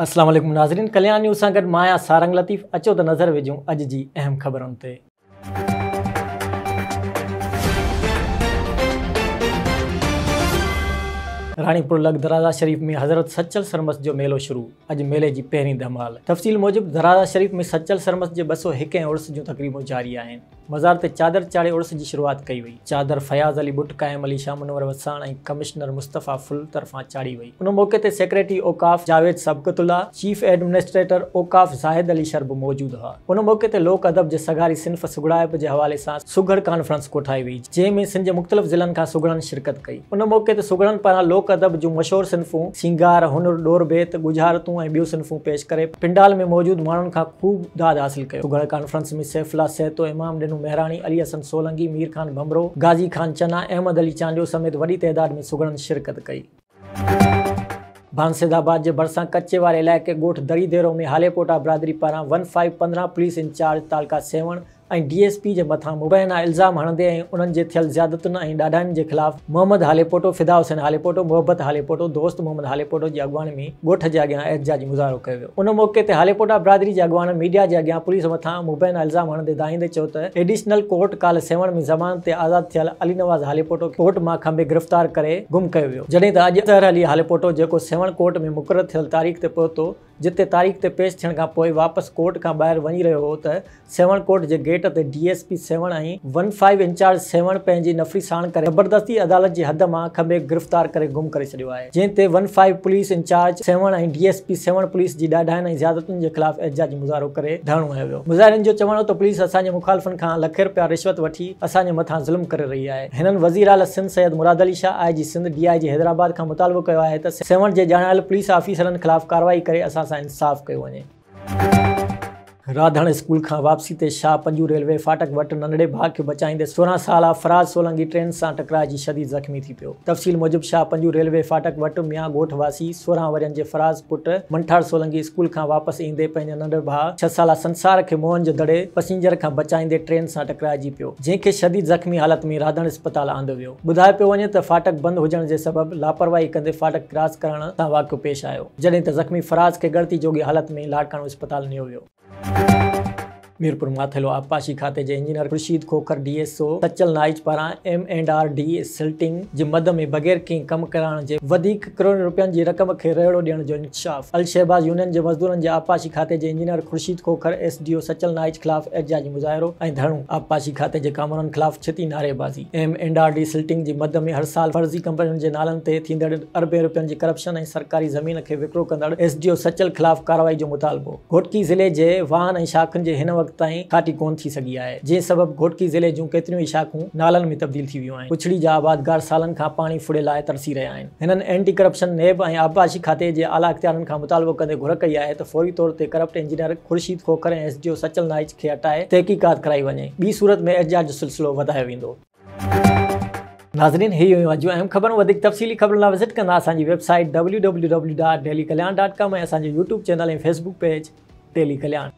السلام عليڪم ناظرين ڪليان نيوز سان گڏ مان آهيان سارنگ لطيف اچو ته نظر وجهون اڄ جي اهم خبرن تي. راڻيپور لڳ درازا شريف ۾ حضرت سچل سرمست جو ميلو شروع، اڄ ميلي جي پهرين ڌمال تفصيل موجب درازا شريف ۾ سچل سرمست جي ٻه سؤ هڪ هين عرس جون تقريبون جاري آهن. مزار تي چادر چاڙهي عرس جي شروعات ڪئي وئي. چادر فياض علي ٻٽ، قائم علي، شاهه منور وساڻ ۽ ڪمشنر مصطفيٰ ڦل طرفان چاڙهي وئي. ان موقعي تي سيڪريٽري اوقاف جاويد سبقت الله، چيف ايڊمنسٽريٽر اوقاف زاهد علي شر به موجود هئا. ان موقعي تي لوڪ ادب جي سگهاري صنف سگهڙائپ جي حوالي سان سگهڙ ڪانفرنس ڪوٺائي وئي، جنهن ۾ سنڌ جي مختلف ضلعن کان سگهڙن شرڪت ڪئي. ان موقعي تي سگهڙن پاران لوڪ ادب جون مشهور صنفون سينگار، هنر، ڏور بيت، ڳجهارتون ۽ ٻيون صنفون پيش ڪري پنڊال ۾ موجود ماڻهن کان خوب داد حاصل ڪيو. سگهڙ ڪانفرنس ۾ سيف الله سهتو، امام ڏنو مهراڻي، علي حسن سولنگي، مير خان ڀنڀرو، غازي خان چنا، احمد علي چانڊيو سميت وڏي تعداد ۾ سگهڙن شرڪت ڪئي. ڀانسيد آباد جي ڀرسان ڪچي واري علائقي ڳوٺ دري ديرو ۾ هاليڪوٽا برادري پاران ون فائيو پندرهن پوليس انچارج تعلقه سيوهڻ ۽ ڊي ايس پي جي مٿان مبينا الزام هڻندي ۽ انهن جي ٿيل زيادتن ۽ ڏاڍاين جي خلاف محمد هاليپوٽو، فدا حسين هاليپوٽو، محبت هاليپوٽو، دوست محمد هاليپوٽو جي اڳواڻي ۾ ڳوٺ جي اڳيان احتجاجي مظاهرو ڪيو ويو. ان موقعي تي هاليپوٽا برادري جي اڳواڻن ميڊيا جي اڳيان پوليس مٿان مبينا الزام هڻندي دانهيندي چيو ته ايڊيشنل ڪورٽ ڪالهه سيوهڻ ۾ ضمانت تي آزاد ٿيل علي نواز هاليپوٽو کي ڪورٽ مان کنڀي گرفتار ڪري گم ڪيو ويو، جڏهن ته اڄ اظهر علي هاليپوٽو جيڪو سيوهڻ ڪورٽ ۾ مقرر ٿيل تاريخ تي پهتو جتي تاريخ تي پيش ٿيڻ کان پوء واپس ڪورٽ کان ٻاهر وڃي رهيو هو ته سيوهڻ ڪورٽ جي گيٽ تي D S P Sehwan ۽ one five incharge Sehwan پنهنجي نفري ساڻ ڪري زبردستي عدالت جي حد مان کنڀي گرفتار ڪري گم ڪري ڇڏيو آهي جنهن تي one five police incharge Sehwan ۽ D S P Sehwan police جي ڏاڍاين ۽ زيادتين جي خلاف احتجاجي مظاهرو ڪري ڌرڻو هنيو ويو مظاهرين جو چوڻ هو ته پوليس اسان جي مخالفن کان لکين رپيا رشوت وٺي اسان جي مٿان ظلم ڪري رهي آهي. هنن وزيراعليٰ سنڌ سيد مراد علي شاهه، آء جي سنڌ، ڊي آء جي حيدرآباد کان مطالبو ڪيو آهي ته سيوهڻ جي ڄاڻايل پوليس آفيسرن خلاف ڪارروائي ڪري اسان سان انصاف ڪيو وڃي. راڌڻ اسڪول کان واپسي تي شاهه پنجو ريلوي ڦاٽڪ وٽ ننڍڙي ڀاء کي بچائيندي سورهن سالا فراز سولنگي ٽرين سان ٽڪرائجي شديد زخمي ٿي پيو. تفصيل موجب شاهه پنجو ريلوي ڦاٽڪ وٽ ميان ڳوٺ واسي سورهن ورهين جي فراز پٽ منٺار سولنگي اسڪول کان واپس ايندي پنهنجي ننڍڙ ڀاء ڇهه سالا سنسار کي موهن جو دڙي پسينجر کان بچائيندي ٽرين سان ٽڪرائجي پيو. جنهن کي شديد زخمي حالت ۾ رادڻ اسپتال آندو ويو. ٻڌايو پيو وڃي ته ڦاٽڪ بند هجڻ جي سبب لاپرواهي ڪندي ڦاٽڪ ڪراس ڪرڻ سان واقعو پيش آيو، جڏهن ته زخمي فراز کي ڳڻتي جوڳي حالت ۾ لاڙڪاڻو اسپتال نيو ويو. ميرپور ماٿيلو آبپاشي کاتي جي engineer Khurshid Khokhar D S O Sachal Naich پاران M and R desilting جي مد ۾ بغير ڪنهن ڪم ڪرائڻ جي وڌيڪ ڪروڙين روپين جي رقم کي رئڙو ڏيڻ جو انڪشاف، الشهباز يونين جي مزدورن جي آبپاشي کاتي جي engineer Khurshid Khokhar S D O Sachal Naich خلاف احتجاجي مظاهرو ۽ ڌرڻو، آبپاشي کاتي جي ڪامورن خلاف ڇتي نعريبازي، M and R desilting جي مد ۾ هر سال فرضي ڪمپنين جي نالن تي ٿيندڙ اربين روپين جي ڪرپشن ۽ سرڪاري زمين کي وڪرو ڪندڙ ايس ڊي او سچل خلاف ڪارروائي جو مطالبو، گهوٽڪي ضلعي جي واهن ۽ شاخن جي هن وقت تائين کاٽي ڪونه ٿي سگهي آهي، جنهن سبب گهوٽڪي ضلعي جون ڪيتريون ئي شاخون نالن ۾ تبديل ٿي ويون آهن. ڪچھڙي جا آبادگار سالن کان پاڻي ڦڙي لاء ترسي رھيا آھن. ھنن اينٽي ڪرپشن، نيب ۽ آبپاشي کاتي جي اعليٰ اختيارين کان مطالبو ڪندي گھر ڪئي آھي ته فوري طور تي corrupt engineer Khurshid Khokhar ۽ S D O Sachal Naich کي ھٽائي تحقيقات ڪرائي وڃي. ٻي صورت ۾ احتجاج جو سلسلو وڌايو ويندو. ناظرين هي هيون اڄ جون اهم خبرون وڌيڪ تفصيلي خبرن لا وزٽ ڪندا اسان جي website W W W dot daily Kalyan dot com ۽ اسان جو YouTube channel ۽ Facebook page daily Kalyan.